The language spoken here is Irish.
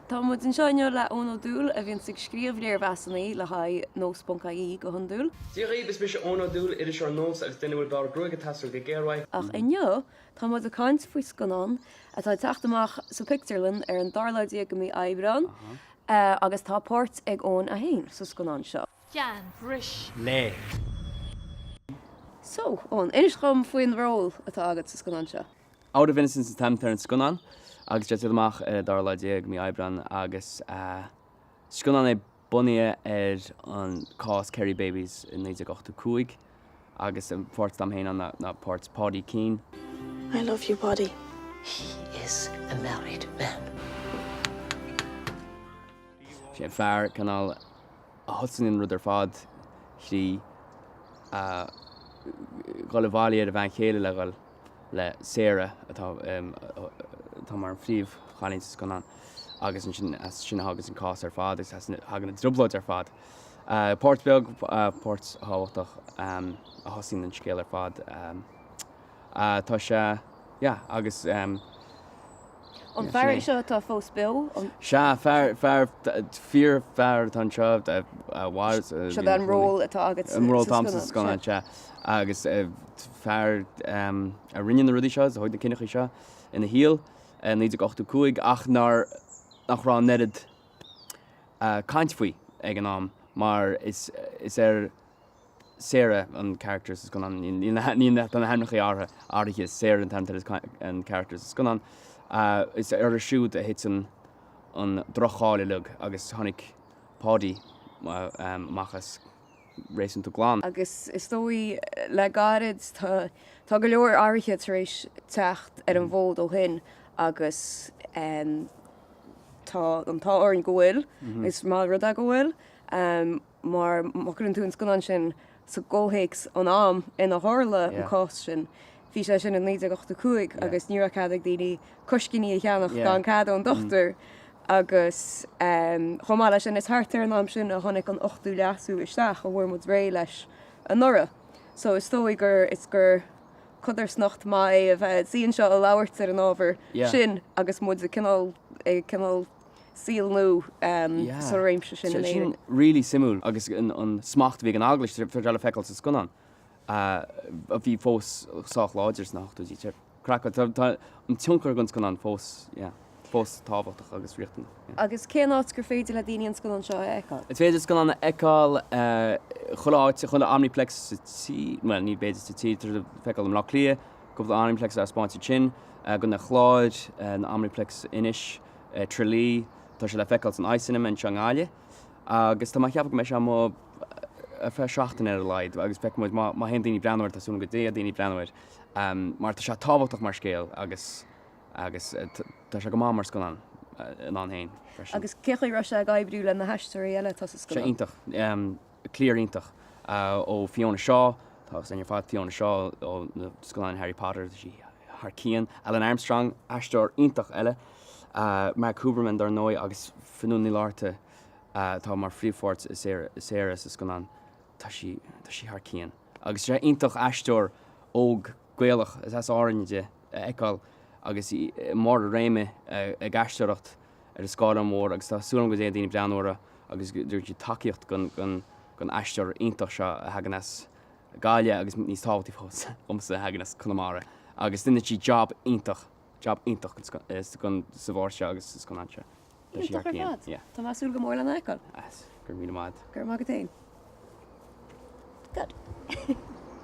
Tá muid anseo inniu le Eoin Ó Dúill, a bhíonns ag scríobh léirmheasanna le haghaidh nós.ie go hiondúil. Dia dhaoibh, is mise Eoin Ó Dúill, iriseoir nós agus duine a bhfuil barr gruaige taistil go géar uaidh. Ach inniu tá muid ag caint faoi scannán atá ag teacht amach sa Pictiúrlann ar an dara lá déag de mhí Aibreán, agus tá páirt ag Eoin a haon sa scannán seo. Déan, bris, léigh. So, Eoin, inis dhom faoin ról atá agat sa scannán seo. Out of Innocence an t-ainm atá ar an scannán agus tá sé ag teacht amach ar an dara lá déag mí Aibreán agus scannán é bunaithe ar an cás Kerry Babies i naoi déag ochtó cúig agus an pháirt atá a'm féin ann ná páirt Paudie Keane. I love you, Paudie. He is a married man. Bhí sé an fear cineál. a thosaíonn an rud ar fad thrí dhul i bhfeall ar a bhean chéile le dhul le Sarah atá mar an phríomh-chailín sa scannán agus ansin as sin a thaganns an cás ar fad agus as sin a thagann na trioblóidí ar fad. Páirt bheag, páirt thábhachtach, a thosaíonn an scéal ar fad. Ah, tá sé, yeah, agus, um, yeah, sin é. An fear é seo atá fós beo, an. Sea, fear, fear, fíor fear atá anseo, a mhair. Seo an ról atá agat sa scannán. An ról atá agat sa scannán, sea. Agus fear a rinne na rudaí seo, a thóg na cinntí seo ina shaol, 1985, ach nár, nach raibh an oiread caint faoi ag an am, mar is, is ar, Sarah an character sa scannán. Tá na hainmneacha athraithe Sarah an t-ainm atá ar an character sa scannán. Is uirthi siúd a thit an droch-cháil uilig agus tháinig Paudie amach as réasúnta glan. Agus is dóigh le gairid tá go leor athruithe tar éis teacht ar an bhfód ó shin agus tá an t-ádh orainn go bhfuil, is maith an rud é go bhfuil. mar má chuireann tú an scannán sin sa gcomhthéacs an am ina tharla an cás sin, bhí sé sin i 1985 agus ní raibh cead ag daoine coiscíní a cheannach gan cead ón dochtúir agus chomh maith leis sin, is thart ar an am sin a tháinig an 8ú Leasú isteach a bhfuair muid réidh leis anuraidh so is dóigh gur, is gur codarsnacht maith é a bheith, suí anseo a labhairt ar an ábhar sin agus muid ag cineál, ag cineál. saol nua sa réimse sin in Éirinn. Sin really suimiúil agus an smacht a bhí ag an Eaglais atá le feiceáil sa scannán a bhí fós sách láidir sna hochtóidí. Craiceáilte. Tá an tionchar ag an scannán fós yeah fós tábhachtach agus riachtanach. Agus cén áit gur féidir le daoine an scannán seo a fheiceáil? Is féidir scannán a fheiceáil chuile áit, chuile Omniplex sa tír, bhuel ní b'fhéidir sa tír, feiceáil i mBleá Cliath, Gabh do Omniplex a thaispeáint sa tSin, gCo. an Chláir, san Omniplex in Inis, Trá Lí, tá sé le feiceáil san Eye Cinema anseo i nGaillimh agus tá mé ag ceapadh go mbeidh sé amuigh ar feadh seachtaine ar a laghad agus feicfidh muid má théann daoine ag breathnú air, tá súil agam go dté daoine ag breathnú air mar tá sé tábhachtach mar scéal agus agus tá sé go maith mar scannán ann féin freisin. Agus cé chaoi a raibh sé ag oibriú le na haisteoirí eile atá sa scannán? Bhí sé iontach. cliar iontach ó Fiona Shaw, tá aithne againn ar fad ar Fiona Shaw ó na scannáin Harry Potter, tá sí thar cionn, Alun Armstrong, aisteoir iontach eile, Mark Huberman dár ndóigh agus Fionnuala Ní Fhlaithearta atá i bpríomhpháirt Sarah sa scannán, tá sí, tá sí thar cionn. Agus is iontach aisteoir óg Gaelach, is as Árainn di, a fheiceáil agus í i mbarr a réime ag aisteoireacht. ar an scáileán mór agus tá súil agam go dté daoine ag breathnú uirthi agus go dtugann siad tacaíocht don aisteoir iontach seo a thagann as Gaillimh agus níos tábhachtaí fós domsa a thagann as Conamara agus déanann sí jab iontach jab iontach sa bpáirt seo agus sa scannán seo. Tá sí thar cionn. Yeah. Tá mé ag súil go mór lena fheiceáil. Yes. Go raibh míle maith agat. Go raibh maith agat féin. Good.